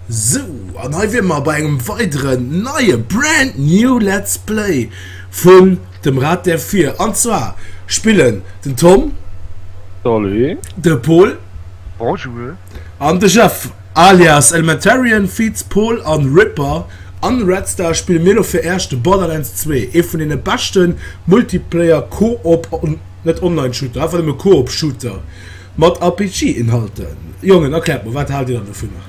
Sou, an hei wier mer bei engem weideren neie brand new Let's Play vun dem Rad der Vier. An zwar spillen den Tom, Salut. de Pol Bonjour. an de Jeff. Alias Elementarian, Feats Paul an Ripper an Red Star spillen mir lo fir Äech de Borderlands 2, ee vun deene beschten Multiplayer Co-op, net Online Shooter, einfach nëmme Co-op Shooter mat RPG Inhalten. Jongen, erkläert mer, wat haalt dir dann dovunner?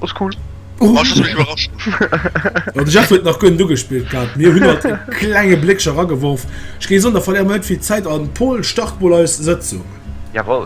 Ass cool, war just mech iwwerrascht. Jo, de Jeff huet nach guer net ugespillt gehat, mir hunn alt e klenge Bléckcher erageworf. Ech géing soen, da verléiere mer net vill Zäit an Paul, start mol eis Sëtzung. Jawoll.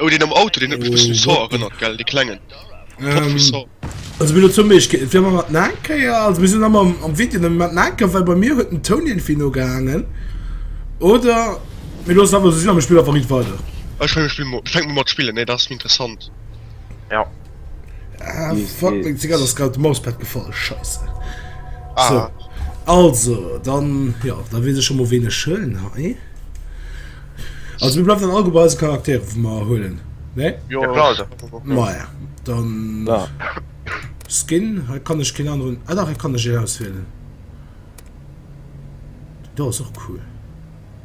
Oh den am Auto den huet mech bëssen u Saw erënnert gell, de klengen Pop vu Saw. Also mir lo zum Beispiel, et wier mer mat Naenkéier, also mir sinn ëmmer am am Video nëmme mat Naenker, well bei mir huet den Toun irgendwie no gehaangen oder mir loossen einfach esou sinn a mir spillen einfach riit weider. Ech fänke mol un mat spillen, nee dat ass méi interessant. Jo. Ah, fuck, mein Zigarre ist gerade im Mauspad gefallen. Scheiße. Ah. So. Also, dann, ja, da will ich schon mal wenig schön, eh? Also, wir bleiben dann alle bei unseren Charakteren, die wir holen. Ne? Ja, ja klar. Also. Naja, dann. Ja. Skin, da kann ich keinen anderen. Ah, doch, da kann ich ihn auswählen. Das ist auch cool.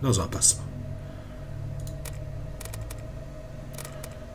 Das ist auch besser.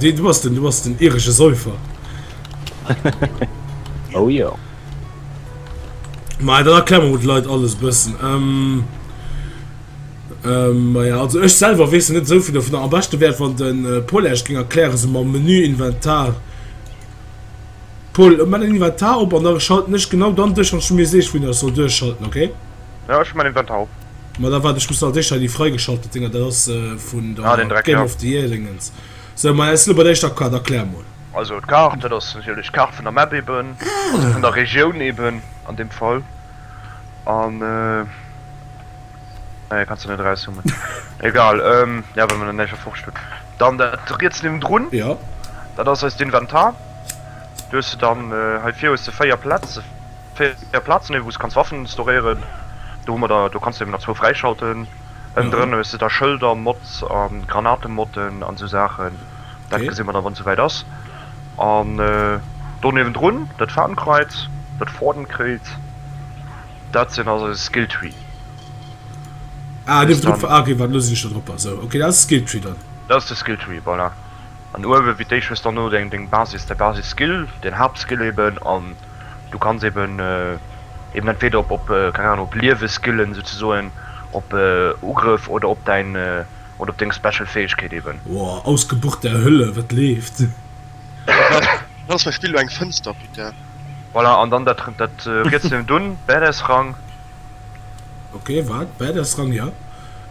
Du bass den, du bass den iresche Säufer. Oh jo. Ma dann erklär mer mol de Leit alles e bëssen. Ähm, ähm, ma ja, also ech selwer weess net esou vill dovunner. Am beschte wär et, wann de Paul Esch géing erklären, esou mam Menü, Inventar. Paul, mat engem Inventar op an da schalten ech genau dann duerch, wann du mir sees, wou een ech soll duerchschalten, okay? Jo ech hun mein Inventar op. Ma da waart ech muss als éischter déi freigeschaltet Dinger, dat ass vun der Game of the Year Dingens. Sou ma es lo bei der éischter Kart, erklär mol. Also d'Kart, dat ass natierlech d'Kart vun der Map eben, also vun der Regioun eben an deem Fall an nee kanns de net erauszoomen egal jo well mer der näischt erforscht hunn. Dann dat riets niewendrun, dat ass eist Inventar, do hues de dann hei vir hues de 4 Plätz, 4 Platzen hun wou s kanns Waffen storéieren, do hu mer der, do kanns de eben der zwou fräischalten. Ënnen drënner hues de da Schëlder, Mods a Granatemotten an esou Saachen, dat gesi mer da wann souwäit ass. An do niewendrun dat Fadenkreuz, dat Fadenkreuz, dat sinn eise Skill Tree. Ah niewendrun, ah ok wat elo sinn ech da drop, esou ok dat ass de Skill Tree dann. Dat ass de Skill Tree, voilà. An uewen wéi d'Éischt hues dann elo deng Basis, däi Basisskill, den Haaptskill eben an. du kanns eben eben entweder op op keng Ahnung op Lieweskillen souzesoen op Ugrëff oder op däin oder op deng Special Fäegkeet eben. Woa ausgebucht der Hölle, wat leeft? Dat ass mäi Spill, elo eng Fënster putain. Voilà an dann dat rietselen dunn Badass Rang. Okay, wat? Bad ass dran, jo.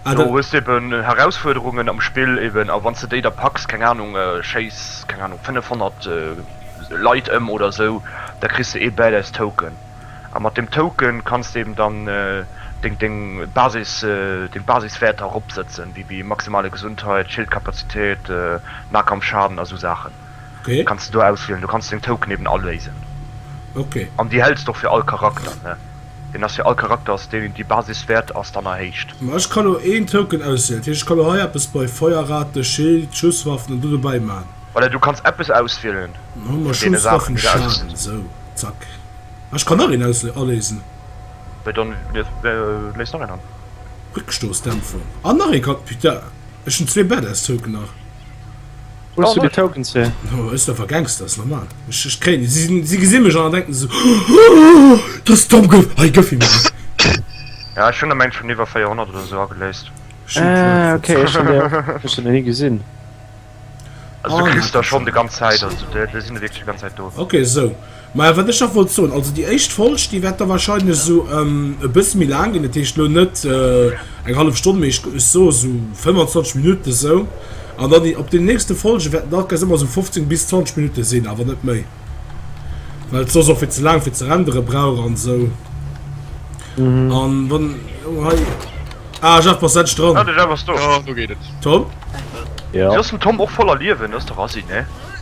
Ah, do hues de eben Herausfuerderungen am Spill eben, a wann s de déi da packs, keng Anung, schéiss, keng Anung, 500 Leit ëm oder sou, da kriss de ee Badass Token. A mat deem Token kanns de eben dann deng, deng Basis, deng Basiswäerter eropsetzen, wéi, wéi maximale Gesundheit, Schildkapazitéit, Nahkampfschaden a sou Saachen. kanns de do auswielen, do kanns de deng Token eben all léisen an déi hälls de och fir all Charakter, ne deen ass fir all Charakter ass deen déi Basiswäert ass dann erhéicht. Ma ech ka lo een Token auswielen, dat heescht ech ka lo hei eppes bei Feuerrate, Schild, Schusswaffen an do dobäi man? Voilà, du kanns eppes auswielen vun deene Saachen déi de auswielen. Esou, zack, ah ech kann nach een aus aléisen. Bah dann léis nach een an. Réckstoossdämpfung an nach een kann, putain ech hunn zwee Badass Token nach. Hues du de Token ze? No ech einfach Gangsters normal. Ech ech kréien si sinn si gesi mech an denken se so dass Tom Gouf hei gëff him. Ja ech hunn der mengt schonn iwwer 400 oder esou ageléist. Ah okay ech hunn der ech hunn der ni gesinn. Also du kriss der schonn de ganz Zäit also de de sinn der wierklech de ganz Zäit do. Okay esou. Maja, wat ech nach wollt soen, also déi éischt Folg, déi wäert da wahrscheinlech esou e bësse méi laang ginn, dat heescht elo net eng hallef Stonn, mee ech soe esou 25 Minutten esou. An dann déi op deenen nächste Folge wäerten da quasi ëmmer esou 15 bis 20 Minutte sinn, awer net méi, well et soss och fir ze laang fir ze rendere brauch an esou. An wann elo hei, ah Jeff, bass endlech dran! Ah, de Jeff ass do! Tom? Jo. Wéi ass den Tom och voller Liewen? Ass de Rassi, ne?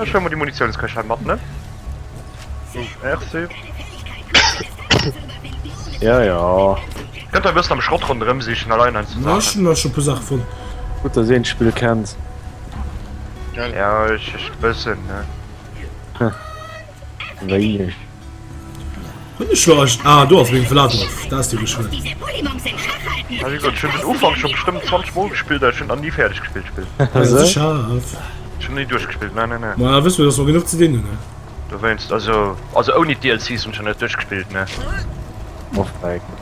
Ech hun mol déi Munitiounskächer mat, ne? Oh, merci. Ja, ja. Kënnt der e bëssen am Schrott ronderëm sichen, allein eins zu Ech hun da scho e puer Saache fonnt. Gutt, dass een d'Spill kennt. Ja, ech, ech, bëssen, ne? Wéineg. Hun ech lo eischt ah do ass meng Vladoff da ass déi geschwënn. Ech hun gesot ech hun den Ufank scho bestëmmt 20 mol gespillt an ech hun en ni färdeg gespillt d'Spill. Hei ass e Schaf. Ech hun en ni duerchgespillt ne ne ne. Maja wëss mir dass mer genuch ze dinn hun ne. Dowéinst also also ouni d'DLCs hun ech en net duerchgespillt ne. Off mic.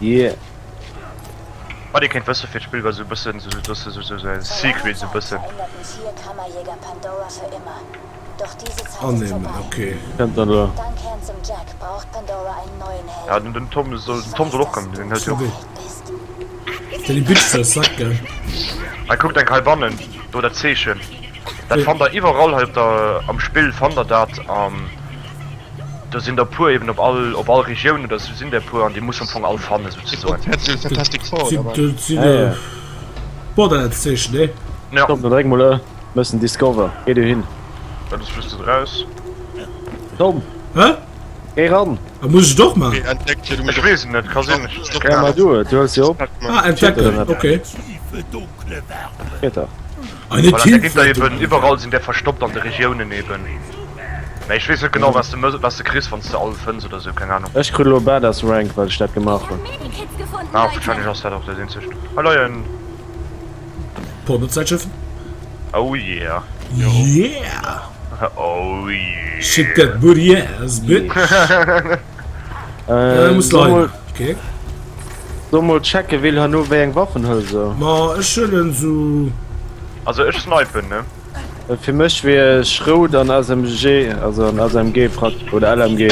Yeah. Wat dir kéint wësse fir d'Spill war sou bëssen sou sou dossen sou sou sou en Secret sou bëssen. Annehmen, ok. Kënnt der elo. Ja den den Tom soll den Tom soll och kommen, den huet jo. Sorry. Fir déi Bitch ze erschrecken. Hei kuckt enk hei bannen, do dat Zeechen. Dat fannt der iwwerall hei op der am Spill fannt der dat an. do sinn der puer eben op all op all Regioun oder sou sinn der puer an déi muss am Fong all fanne souzesoen. Dat ass just do draus. Ech weess et net, ka sinn ech ech kenne mech net aus. Voilà, da geet der eben iwwerall, sinn der verstoppt an de Regiounen eben. Mä ech weess net genau, wat s de, wat s de kriss, wann s de all fënns oder esou, keng Anung. Ech kritt elo Badass Rank, well ech dat gemaach hunn. Ah, wahrscheinlech ass dat och dat eenzegt. Hei leien. Pornozeitschriften. Oh yeah. Yeah! Oh yeah. Shit get booty ass bitch. Äh, muss leiden. Okay. So mal checken, will han no wéi eng Waffen hëll se. Ma ech hëllen so. Also ech snipen, ne? Äh, Fir mech wier Schrout an SMG, also an SMG Frack oder LMG.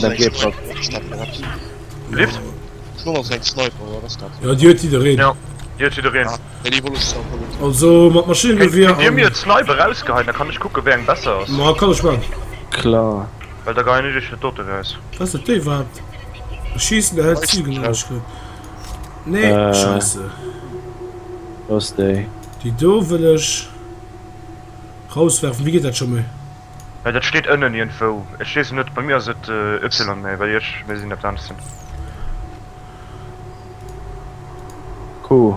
LMG Frack. Lift? Ja, Dir huet jiddereen. Ja. Dir huet jiddereen. Also mat Maschinengewehr. Dir mir Sniper rausgeheien, da kann ech kucke wéi eng besser ass. Ma kann ech man. Klar. well da geien ech iech fir doten aus. Ass dat déi wat schiessen erhält Ziegen an der Schritt? Nee scheisse. Wou ass déi? Déi do wëll ech rauswerfen. Wéi geet dat scho méi? Hei dat steet ënnen iergendwou. Ech weess et net. Bei mir ass et Ypsilon mä bei iech méi sinn eppes anescht sinn. Q.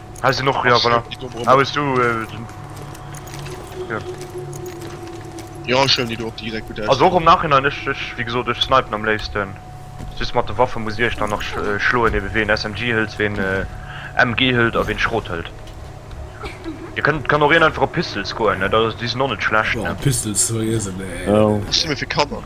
Hei sinn och, ja voilà. Hei hues du den... Ja. Jo, ech huelen déi do op, déi gesäit gutt aus. Also och am Nachhinein, ech, ech, wéi gesot, ech snipen am léifsten. Just mat de Waffe muss dir iech dann nach schloen, ebe ween SMG hëlt, ween MG hëlt a ween Schrot hëlt. Et kënnt, kann och een einfach op Pistols goen, ne, déi sinn och net schlecht, ne. Oh, Pistols, souwisou, nee. Ech si méi fir Kanner.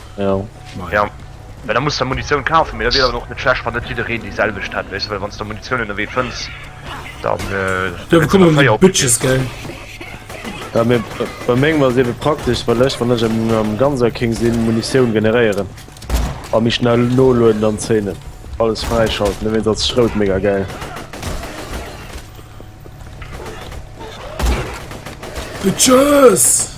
Ja. Well da muss der Munitioun kafen, mee da wier et awer och net schlecht, wann net jiddereen déi selwecht hätt, weess de, well wann s de Munitioun ënnerwee fënns, da kënns de mat véier opkillen. Ja, mee bei mengem ass et ebe praktesch, well ech, wann ech am Ganser King sinn, Munitioun generéieren a méi schnell noloden an zéinen, alles fräischalten, ewéinst als Schrout mega gäil. Bitches!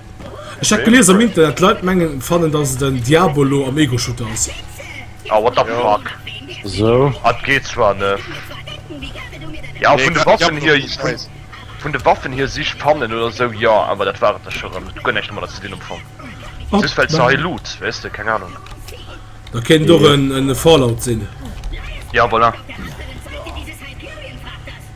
Ech hat gelies am Internet d'Leit mengen fannen dass et en Diabolo am Ego Shooter ass. Oh what the fuck. Sou. Hat geet zwar net. Jo vun de Waffen hier, vun de Waffen hier sich fannen oder sou jo awer dat war et da scho rem. Et huet guer näischt domadder ze dinn am Fong. Just well se hei Loot weess de, keng Ahnung. Da kéint et och en Fallout sinn. Jo voilà.